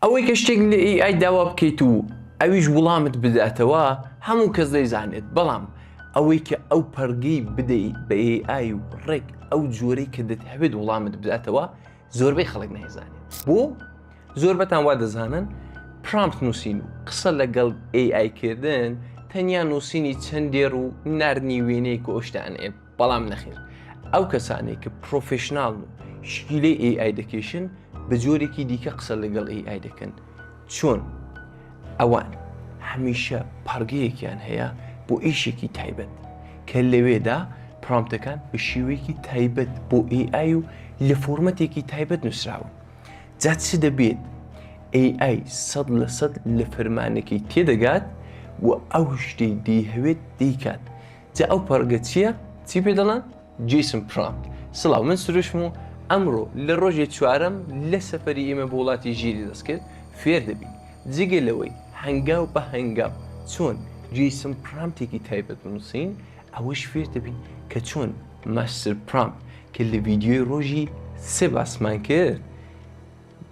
ئەوەی کە شتێک لە AI داوا بکەیت و ئەویش وڵامت بداتەوە هەموو کەس دەیزانێت بەڵام ئەوەی کە ئەو پەڕگەی بدەیت بە AI و ڕێک ئەو جۆرەی کە دەتهەوێت وڵامت بداتەوە زۆربەی خەڵک نایزانێت بۆ زۆربەتان وا دەزانن پرامپت نووسین و قسە لەگەڵ AI کردن تەنیا نووسینی چەند دێڕ و ناردنی وێنەیەک و ئەوشتانەیە بەڵام نەخێر ئەو کەسانێک کە پرۆفشنناڵ و شکیلەی AI دەکێشن بە جۆرێکی دیکە قسە لەگەڵ AI دەکەن چۆن ئەوان هەمیشە پارگەیەکیان هەیە بۆ ئیشێکی تایبەت کە لەوێدا پرامتەکان بە شێوەیەکی تایبەت بۆ AI و لە فۆرمەتێکی تایبەت نووسراون جا چ دەبێت AI سەد لە سەد لە فەرمانەکەی تێدەگات و ئەو شتەی دەیهەوێت دیکات جا ئەو پەڕگە چیە چی پێ دەڵێن جیسن پرامپ. سڵاو من سروشم و ئەمڕۆ لە ڕۆژێ چوارەم لە سەفەری ئێمە بۆ وڵاتی ژیری دەستکرد فێر دەبین جگە لەوەی هەنگاو بە هەنگاو چۆن جیسن پرامتێکی تایبەت بنووسین ئەوەش فێر دەبین کە چۆن ماستر پرامپ کە لە ڤیدیۆی ڕۆژی سێ باسمان کرد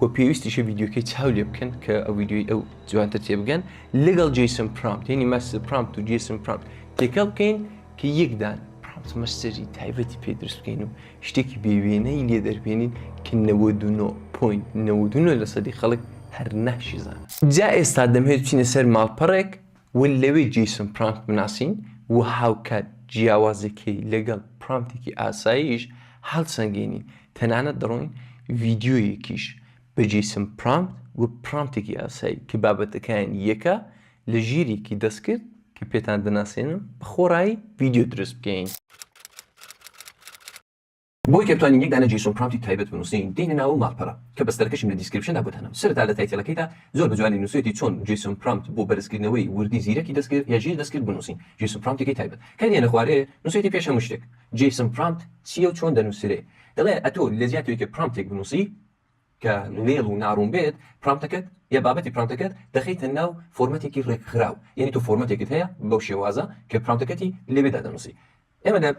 وە پێویستیشە ڤیدیۆکەی چاو لێ بکەن کە ئەو ڤیدیۆی ئەو جوانتر تێبگەن لەگەڵ جیسم پرامپ یعنی مەس پرامپ و جیسم پرامپ تێکەڵ بکەین کە یەکدان پرامپ مەسەری تایبەتی پێ دروست بکەین و شتێکی بێوێنەی لێ دەربێنین کە 99.99 لە سەدی خەڵک هەر ناشیزانن جا ئێستا دەمهێت بچینە سەر ماڵپەڕێک وە لەوێ جەیسۆن پرامپت بناسین وە هاوکات جیاوازیەکەی لەگەڵ پرامپتێکی ئاساییش هەڵسەنگێنین تەنانەت دەڵێین ڤیدیۆیەکیش بە جەیسۆن پرامپت وە پرامپتێکی ئاسایی کە بابەتەکەیان یەکە لە ژیرێکی دەستکرد کە پێتان دەناسێنم بە خۆڕایی ڤیدیۆ دروست بکەین. بۆی کە بتوانین یەک دانە جەیسۆن پرامپتی تایبەت بنووسین دێینە ناوە ماڵپەرە کە بەستەرەکەشم لە دیسکریپشندا بۆ دانام سەرەتا لە تایتێلەکەیدا زۆر بە جوانی نووسوێتی چۆن جەیسۆن پرامپت بۆ بەرزکردنەوەی وردی زیرەکی دەستکرد یا ژیر دەستکرد بنووسین جەیسۆن پرامپتێکی تایبەت کە دێنە خوارێ نووسوێتی پێش هەموو شتێک جەیسۆن پرامپت چییە و چۆن دەنووسرێ دەڵێ ئەتۆ لە جیاتی ئەوەی کە پرامپتێک بنووسی کە نوێڵ و ناڕوون بێت پرامپتەکەت یا بابەتی پرامپتەکەت دەخەیتە ناو فۆرمەتێکی ڕێکخراو یەنی تۆ فۆرمەتێکت هەیە بەو شێوازە کە پرامپتەکەتی لەوێدا دەنووسی ئێمە لە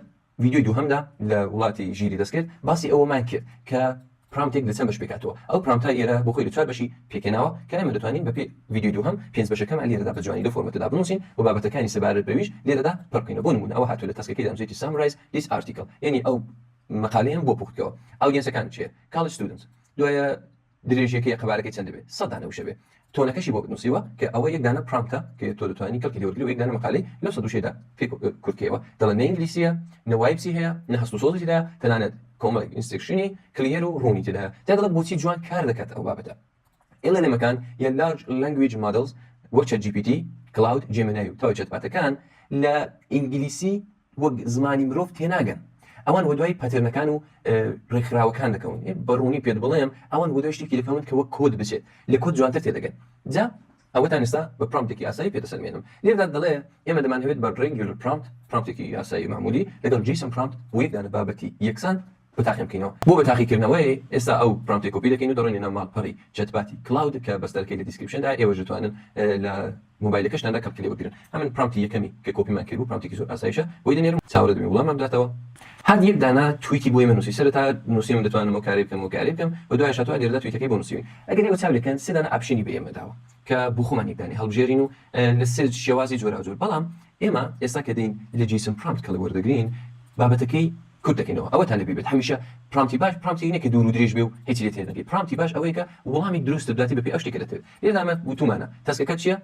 ڤیدیۆی دووهەمدا لە وڵاتی ژیری دەستکرد باسی ئەوەمان کرد کە پرامتێک لە چەند بەش پێکاتەوە ئەو پرامتە ئێرە بۆ خۆی لە چوار بەشی پێکێناوە کە ئێمە دەتوانین بە پێی ڤیدیۆی دووهەم پێنج بەشەکەمان لێرەدا بە جوانی لە فۆرمەتەدا بنووسین و بابەتەکانی سەبارەت بەویش لێرەدا پڕ بکەینەوە بۆ نموونە ئەوە هاتووە لە تاسکەکەیدا نووسیویەتی سامرایز دیس ئارتیکڵ یەنی ئەو مەقالەیەم بۆ پوخت بکەوە ئاودیەنسەکانت چییە کاڵیج ستودنتس دوایە درێژیەکەی قەبارەکەی چەند دەبێت سەد دانە وشە بێ تۆنەکەشی بۆت نووسیوە کە ئەوە یەک دانە پرامتە کە تۆ دەتوانی کەڵکی لێ وەرگری و یەک دانە مەقالەی لەو سەد وشەیەدا پێ کورت کەیەوە دەڵێن نە ئینگلیسیە نە وایبسی هەیە نە هەست و سۆزی تێدایە تەنانەت کۆمەڵێک ئینسترکشنی کلیەر و ڕوونی تێدایە تیا دەڵێت بۆچی جوان کار دەکات ئەو بابەتە LLM ەکان یان Large Language Models وەک چەت جی پی تی کلاود جێمینای و تاوی چەتباتەکان لە ئینگلیسی وەک زمانی مرۆڤ تێناگەن ئەوان وەدوای پەتێرنەکان و ڕێکخراوەکان دەکەون بەڕوونی پێت بڵێم ئەوان وەدوای شتێکی دەکەون کە وەک کۆد بچێت لە کۆد جوانتر تێدەگەن جا ئەوەتان ئێستا بە پرامپتێکی ئاسایی پێدەسەلمێنم لێردا دەڵێ ئێمە دەمانەوێت بە ڕێنگیولر پرامپت پرامپتێکی یاسایی معمولی لەگەڵ جیسن پرامپت بۆ یەک دانە بابەتی یەکسان بەتاقی بکەینەوە. بۆ بەتاقیکردنەوەی، ئێستا ئەو پرامپتەی کۆپی دەکەین و دەڕۆینە ناو ماڵپەڕی چەتباتی کلاود کە بەستەرەکەی لە دیسکریپشندایە، ئێوەش دەتوانن لە مۆبایلەکەشتاندا کەڵکی لێ وەربگرن. ئەمن پرامپتی یەکەمی کە کۆپیمان کردبوو، پرامپتێکی زۆر ئاسایشە، بۆی دەنێرم، چاوەڕێ دەبین وڵاممان بداتەوە. هات یەک دانە تویتی بۆ ئێمە نووسی، سەرەتا نووسیوم دەتوانم ئەو کارەی بکەم و ئەو کارەی بکەم و دوایش هاتووە لێرەدا تویتەکەی بۆ نووسیوین. ئەگەر ئێوە چاو لێکەن سێ دانە ئاپشنی بە ئێمە داوە کە بۆ خۆمان یەک دانەی هەڵبژێرین و لە سێ شێوازی جۆراوجۆر، بەڵام ئێمە ئێستا کە دێین لە جەیسن پرامپت کەڵک وەردەگرین بابەتەکەی، کورت دەکەینەوە ئەوەتان لەبیر بێت هەمیشە پرامتی باش پرامتێک نیە کە دوور و درێژ بێ و هێچی لێ تێر نەکەی پرامتی باش ئەوەیە کە وڵامی دروستت بداتێ بەپێی ئەو شتەی کە دەتەوێ لێرەدا ئەمە وتومانە تاسکەکەت چیە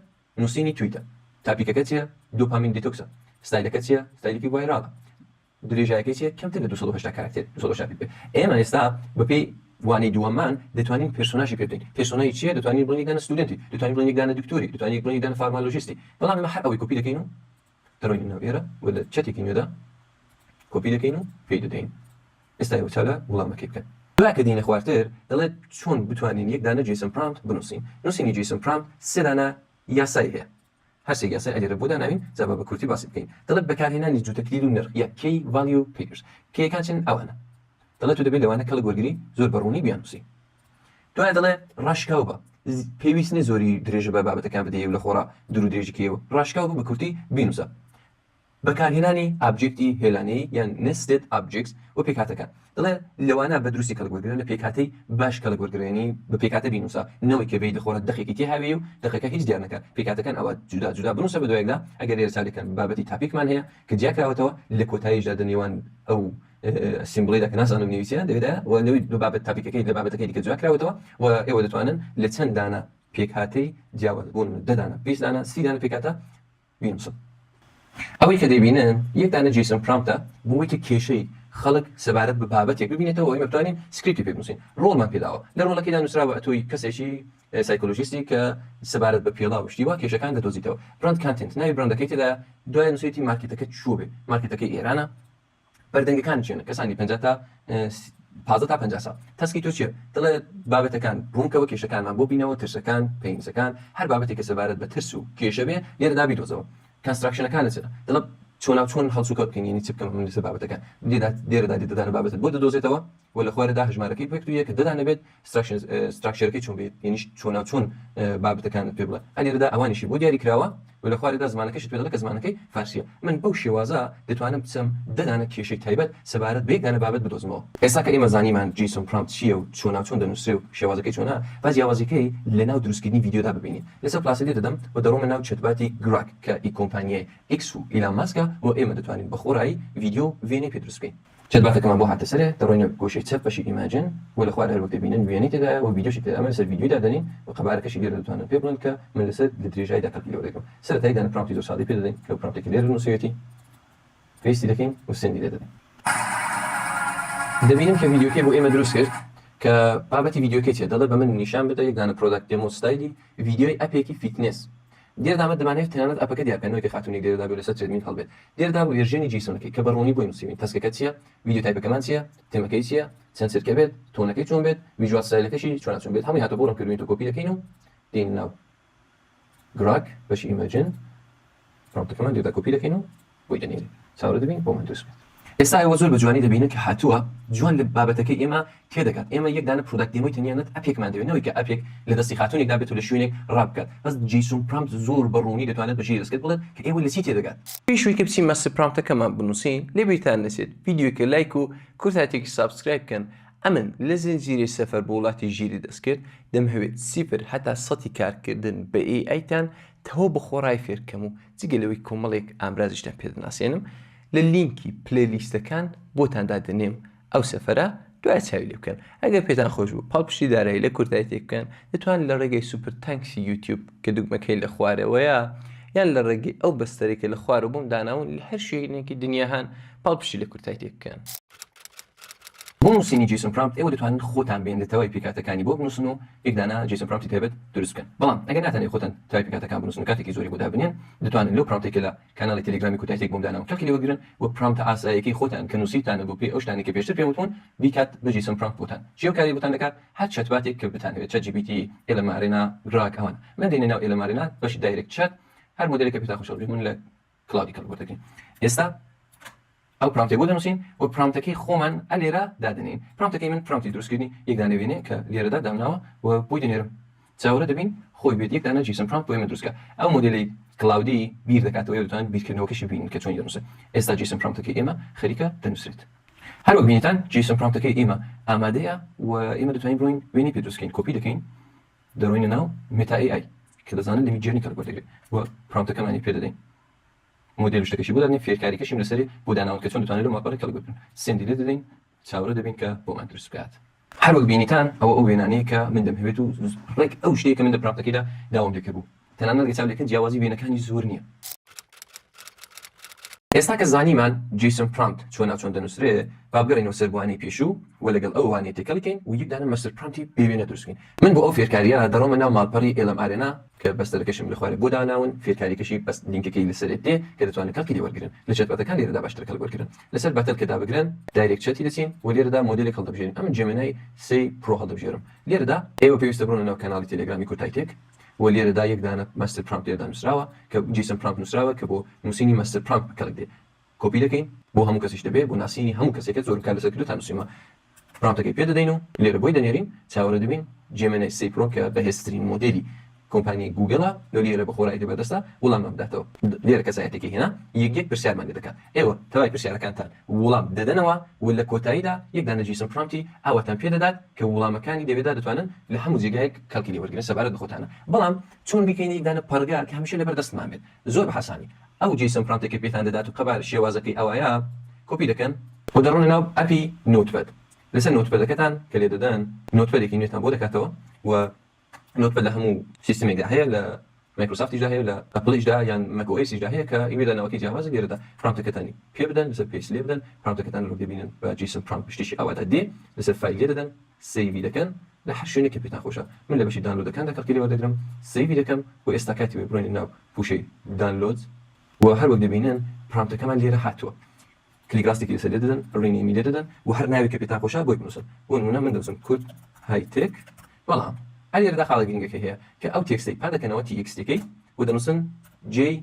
نوسینی تویتە تاپیکەکە چیە دۆپامین دیتۆکسە ستایلەکەت چیە ستایلێکی ڤایراڵە درێژایەکەی چیە کەمتر لە دوو سەد و هەشتا کاراکتێر دوو سەد و هەشتا پیت بێ ئێمە ئێستا بەپێی وانەی دووەممان دەتوانین پێرسۆناژی پێ بدەین پێرسۆنای چیە دەتوانین بڵێین یەک دانە ستودێنتی دەتوانین بڵێین یەک دانە دکتۆری دەتوانین یەک بڵێین یەک دانە فارمالۆژیستی بەڵام ئێمە هەر ئەوەی کۆپی دەکەین و دەڕۆینە ناو ئێرە و لە چەتێکی نوێدا کۆپی دەکەین و پێی دەدەین ئێستا ئێوە چالا وڵامەکەی بکەن. دوای کە دێینە خوارتر دەڵێت چۆن بتوانین یەک دانە جەیسن پرامت بنووسین نووسینی جەیسن پرامت سێ دانە یاسای هەیە هەر سێ یاسای ئەلێرە بۆ داناوین جا با بە کورتی باسی بکەین دەڵێت بەکارهێنانی جووتە کلیل و نرخ یا کێی ڤالیو پیگرز کێیەکان چین ئەوانە دەڵێت و دەبێت لەوانە کەڵک وەرگری زۆر بە ڕوونی بیاننووسین دوای دەڵێ ڕاشکاو بە پێویست نیە زۆری درێژە بە بابەتەکان بدەیە لە خۆرا درو درێژکەوە ڕاشکاو بە کورتی بینوسە بەکارهێنانی ئابجێکتی هێلانەی یان نستێت ئابجێکس و پێکاتەکان دڵێ لەوانە بە دروستی کەلگوەرگرە لە پێکاتی باش کەلگوەرگرێنی بە پێکاتە بینوسە نەوەی کەبێت لە خۆرە دەقێکی تێ هاوێ و دەقەکە هیچ دیارنەکە پێکاتەکان ئەوە جودا جودا بنووسە بە دوایدا ئەگەر لێرە ساێکەن بابەتی تاپیکمان هەیە کە دیاکراوەتەوە لە کۆتاییشدا دە نێوان ئەو سیمبڵی دا کە نازانم نویسیان لەوێدا و لەوی لە بابەت تاپیکەکەی لە بابەتەکەی دیکە جیا کراوەتەوە و ئێوە دەتوانن لە چەند دانە پێکهاتەی جیاواز بۆ نمونە دە دانە بیست دانە سی دانە پێکهاتە بینووسن ئەوەی کە دەبینن یەک دانە جیسن پرامپتە بۆ ئەوەی کە کێشەی خەڵک سەبارەت بە بابەتێک ببینێتەوە ئەوی بتوانین سکریپتی پێ بنووسین ڕۆڵمان پێداوە لە ڕۆڵەکەیدا نووسراوە ئەتۆی کەسێکی سایکۆلۆژیستی کە سەبارەت بە پێڵا و شتیوا کێشەکان دەدۆزیتەوە براند کانتنت ناوی براندەکەی تێدا دوای نووسێتی مارکێتەکە چوە بێ مارکێتەکەی ئێرانە بەردەنگەکانی چێنە کەسانی پەنجا تا پازدە تا پەنجا ساڵ تەسکی تۆ چیە دڵێ بابەتەکان ڕوونکەوە کێشەکانمان بۆ بینەوە ترسەکان پێنجەکان هەر بابەتێک کە سەبارەت بە ترس و کێشە بێ لێرەدا بیدۆزەوە کەنستراکشنەکانە چرا دڵە چۆنا چۆن هەڵسوکەوت بکەین یعنی چ بکەم من لەسەر بابەتەکان لێدا لێرەدا لێدەدانە بابەتت بۆ دەدۆزێتەوە وە لە خوارە دا هەژمارەکەی پێکتو یە کە دە دانە بێت ستراکشنز ستراکشێرەکەی چۆن بێت یەنیش چۆنا چۆن بابەتەکانت پێ بڵێ ئەلێرە دا ئەوانیشی بۆ دیاری کراوە وە لە خوارە دا زمانەکەشت پێ دەڵێ کە زمانەکەی فارسیە من بەو شێوازە دەتوانم بچم دە دانە کێشەی تایبەت سەبارەت بە یەک دانە بابەت بدۆزمەوە. ئێستا کە ئێمە زانیمان جەیسۆن پرامپت چیە و چۆنا چۆن دەنوسرێ و شێوازەکەی چۆنە با جیاوازیەکەی لە ناو دروست کردنی ڤیدیۆ دا ببینین لەسەر پلاسە لێ دەدەم وە دەڕۆمە ناو چەتباتی گراک کە ئی کۆمپانیای ئیکس و ئیلان ماسکە وە ئێمە دەتوانین بە خۆڕایی ڤیدیۆ و ڤێنەی پێ دروست بکەین. چەت باتەکەمان بۆ هاتە سەرێ دەڕۆینە گۆشەی چەپ بەشی ئیماجن و لە خوار هەر وەک دەبینن وێنەی تێدایە و ڤیدیۆشی تێدا ئەمە لەسەر ڤیدیۆی دادەنێین و قەبارەکەشی لێرە دەتوانن پێ بڵێن کە من لەسەر لە درێژایدا کەڵکی لێوە دەگرم سەرەتای دانە پراومتی زۆر سادەی پێ دەدەین لەو پراومتەی کە لێرە نووسیوێتی پێستی دەکەین و سندی لێ دەدەین دەبینن کە ڤیدیۆکەی بۆ ئێمە دروست کرد کە بابەتی ڤیدیۆکەی چێ دەڵێ بە من نیشان بدە یەک دانە پرۆداکت دێمۆ ستایلی ڤیدیۆی ئەپێکی فیتنس دیردە ئەمە دەمانەوێت تەنانەت ئەپەکە دیار بکەین نەوەک کە خاتوونێک لێرە دابێت و لەسەر ترێدمیل هەڵبێت. دیردە ڤێرژێنی جەیسۆنەکەی کە بە ڕوونی بۆی نووسیوین، تەسکەکە چییە، ڤیدیۆ تایپەکەمان چییە، تێمەکەی چییە، چەند چرکە بێت، تۆنەکەی چۆن بێت، ڤیژوال ستایلەکەشی چوارچوون بێت، هەمووی هاتووە بۆ ڕەنگکردنی تۆ کۆپی دەکەین و دێینە ناو گراک بەشی ئیمەجن پرۆمپتەکەمان دیردە کۆپی دەکەین و بۆی دەنێرین چاورە دەبین بۆ مندوس بێت ئێستا ئێوە زۆر بە جوانی دەبینن کە هاتووە جوان لە بابەتەکەی ئێمە تێ دەگات ئێمە یەک دانە پرۆداکت دێمۆی تەنیا نەت ئەپێکمان دەوێت نەوەی کە ئەپێک لە دەستی خاتوونێکدا بێت و لە شوێنێک ڕاپ بکات بەس جەیسۆن پرامپت زۆر بە ڕوونی دەتوانێت بە ژێری دەستکرد بڵێت کە ئێوە لە چی تێ دەگات. پێش وەی کە بچین ماستەر پرامپتەکەمان بنووسین لە بیرتان نەچێت ڤیدیۆکە لایک و کورتایتێکی سابسکرایب بکەن ئەمن لە زنجیرەی سەفەر بۆ وڵاتی ژیری دەستکرد دەمهەوێت سیفر هەتا سەتی کارکردن بە AI تان تەواو بە خۆڕای فێرکەم و جگە لەوەی کۆمەڵێک ئامرازیشتان پێ دەناسێنم لە لینکی پلەی لیستەکان بۆتان دادەنێم ئەو سەفەرە دوایە چاوی لێ بکەن ئەگەر پێتان خۆش بوو پاڵپشتی دارایی لە کورتایی تێک بکەن دەتوانن لە ڕێگەی سوپر تانکسی یوتیوب کە دوگمەکەی لە خوارەوەیە یان لە ڕێگەی ئەو بەستەرەی کە لە خوارەوە بۆم داناون لە هەر شوێنێکی دنیا هەن پاڵپشتی لە کورتای تێک بکەن. بۆ نووسینی جەیسۆن پرامپت ئێوە دەتوانن خۆتان بێننە تەوای پێکهاتەکانی بۆ بنووسن و یەک دانە جەیسۆن پرامپتی تایبەت دروست بکەن بەڵام ئەگەر ناتانەوێت خۆتان تەوای پێکهاتەکان بنووسن و کاتێکی زۆری بۆ دابنێن دەتوانن لەو پرامپتەی کە لە کاناڵی تێلیگرامی کوتایتێک بۆم داناون کەڵکی لێوەرگرن و پرامپتە ئاسایەکەی خۆتان کە نووسیوتانە بۆ پێی ئەو شتانەی کە پێشتر پێم وتوون بیکات بە جەیسۆن پرامپت بۆتان چی ئەو کارەی بۆتان دەکات هەر چەتباتێک کە بتانەوێت چەت جی پی تی ئێلەن مارێنا گراک ئەوانە من دێنە ناو ئێلەن مارێنا بەشی دایرێکت چەت هەر مۆدێلێک کە پێتان خۆشە بژیت من لە کلاودی کەڵک وەردەگرین ئێستا ئەو پرامتێک بۆ دەنووسین و پرامتەکەی خۆمان ئە لێرە دادنین پرامتەکەی من پرامتی دروستکردنی یەک دانە وێنێ کە لێرەدا دامناوە و بۆی دەنێرم چاوەرە دەبین خۆی بێت یەک دانە جیسم پرامت بۆ ئێمە دروستکە ئەو مۆدلی کلاودی بیر دەکاتەوە یا دەتوانن بیرکردنەوەکەشی ببینن کە چۆنی دەنووسێت ئێستا جیسم پرامتەکەی ئێمە خەریکە دەنووسرێت هەروەک بینیتان جیسم پرامتەکەی ئێمە ئامادەیە و ئێمە دەتوانین بڕۆین وێنەی پێ دروستکەین کۆپی دەکەین دەڕۆینە ناو مێتا ئەی ئای کە دەزانن لە میدجێرنی کار وەردەگرێ و پرۆمتەکەمانی پێ دەدەین مۆدێل و شتەکەشی بۆ دادەنێ فێرکاریکەشیم لەسەرێ بۆ داناون کە چۆن دەتوانن لەو ماپەڕە کەڵک بکەن سێندی لێ دەدەین چاوەڕێ دەبین کە بۆمان دروست بکات. هەر وەک بینیتان ئەوە ئەو وێنانەیە کە من دەمهەوێت و ڕێک ئەو شتەیە کە من لە پرۆمتەکەیدا داوام لێ کردبوو. تەنانەت لە چاولێکە جیاوازی وێنەکانی زۆر نییە. ئێستا کە زانیمان جەیسۆن پرامپت چۆن ناوچۆن دەنووسرێ، با بگەڕێینەوە سەر بوانەی پێشوو و لەگەڵ ئەو وانەیە تێکەڵیکەین و یەکدانە مەستەر پرامپتی بێ وێنە دروست بکەین. من بۆ ئەو فێرکارییە دەڕۆمە ناو ماڵپەڕی ئێلەم ئارێنا، کە بەستەرەکەشم لە خوارێ بۆ داناون، فێرکارییەکەشی بەس لینکەکەی لە سەرێ دێ کە دەتوانن کەڵکی لێ وەرگرن. لە چەتباتەکان لێرەدا باشترە کەڵک وەرگرن. لە سەر باتل کە دابگرن، دایرێکت چەتی دەچین و لێرەدا مۆدێلێک هەڵدەبژێرین. ئەمن جێمێنای سێی پرۆ هەڵدەبژێرم لێرەدا. ئێوە پێویستە بڕۆنە ناو کەناڵی تێلێگرامی کورتایتێک. بۆ لێرەدا یەک دانە ماستر پرامپت لێرەدا نوسراوە کە جیسن پرامپت نوسراوە کە بۆ نوسینی ماستر پرامپت بە کەڵک دێ کۆپی دەکەین بۆ هەموو کەسیش دەبێ بۆ ناسینی هەموو کەسێکە زۆرم کار لەسەر کردوە تا نوسیومە پرامپتەکەی پێ دەدەین و لێرە بۆی دەنێرین چاوەرە دەبین جێمێنای سێی پرۆ کە بەهێزترین مۆدێلی کۆمپانیای گووگڵە لۆ لێرە بە خۆرایی تێبەردەستە وڵاممان بداتەوە لێرە کەسایەتیەکەی هێنا یەک یەک پرسیارمان لێ دەکا ئێوە تەوای پرسیارەکانتان ووڵام دەدەنەوە و لە کۆتاییدا یەک دانە جیسم پرۆمتی ئاواتان پێ دەدات کە ووڵامەکانی دەوێدا دەتوانن لە هەموو جێگایەک کەڵکی لێ وەرگرن سەبارەت بە خۆتانە بەڵام چۆن بیکەینە یەک دانە پەڕگە کە هەمیشە لەبەر دەستمان بێت زۆر بە هاسانی ئەو جیسم پرۆمتەی کە پێتان دەدات و قەبارە شێوازەکەی ئەوایە کۆپی دەکەن و دەڕۆنە ناو ئەپی نۆتپەد لەسەر نۆتپەدەکەتان کە لێ دەدەن نۆتپەدێکی نوێتان بۆ دەکاتەوە و. نوتپە لە هەموو سیستمێکدا هەیە لە مایکرۆسافتیشدا هەیە لە ئەپڵیشدا یان مەک ئۆ ئێسیشدا هەیە کە ئیمێ داناوەکەی جیاوازە لێرەدا پرامپتەکەتانی پێ بدەن لەسەر پێست لێ بدەن پرامپتەکەتان لەرۆک دەبینن بە جیسن پرامپ شتێکی ئاوادا دێ لەسەر فایل لێ دەدەن سەیڤی دەکەن لە هەر شوێنێک کە پێتان خۆشە من لە بەشی دانلۆدەکاندا کەڵکی لێ وەردەگرم سەیڤی دەکەم و ئێستا کاتی وایە بڕۆینە ناو پووشەی دانلۆد و هەر وەک دەبینن پرامپتەکەمان لێرە هاتووە کلیک راستێکی لەسەر لێ دەدەن رینەیمی لێ دەدەن و هەر ناوێک کە پێتان خۆشە بۆی بنووسن بۆ نموونە من دەنووسم کورد های تێک بەڵام هەر لێرەدا خاڵە گرنگەکەی هەیە کە ئەو تێکستەی پان دەکەنەوە تی ئێکس تێکەی و دەنووسن جێی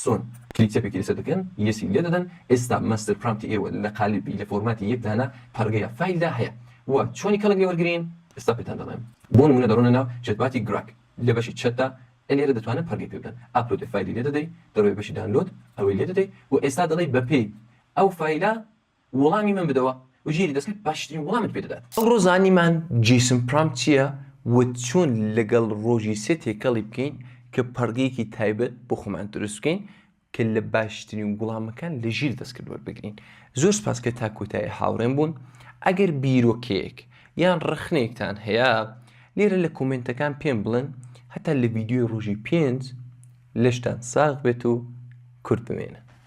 سۆن کلیک چەپێکی لەسەر دەکەن یەسی لێ دەدەن ئێستا ماستەر پرامتی ئێوە لە قالیبی لە فۆرماتی یەک دانە پەڕگەیە فایلدا هەیە و چۆنی کەڵک لێ وەرگرین ئێستا پێتان دەڵێم بۆ نموونە دەڕۆنە ناو چەتباتی گراک لە بەشی چەتدا ئەنێرە دەتوانن پەڕگی پێ بدەن ئاپلۆدی فایلی لێ دەدەی دەڕۆی بەشی دانلۆد ئەوەی لێ دەدەی و ئێستا دەڵێی بە پێی ئەو فایلە وڵامی من بدەوە و ژێری دەسکت باشترین وڵامت پێ دەدات. ئەمڕۆ زانیمان جیسن پرامپ چیە و چۆن لەگەڵ ڕۆژی سێ تێکەڵی بکەین کە پەڕگەیەکی تایبەت بۆ خۆمان دروست بکەین کە لە باشترین وڵامەکان لە ژیر دەستکرد وەربگرین زۆر سپاس کە تا کۆتایی هاوڕێم بوون ئەگەر بیرۆکەیەک یان ڕەخنەیەکتان هەیە لێرە لە کۆمێنتەکان پێم بڵێن هەتا لە ڤیدیۆی ڕۆژی پێنج لەشتان ساغ بێت و کورد بمێنن.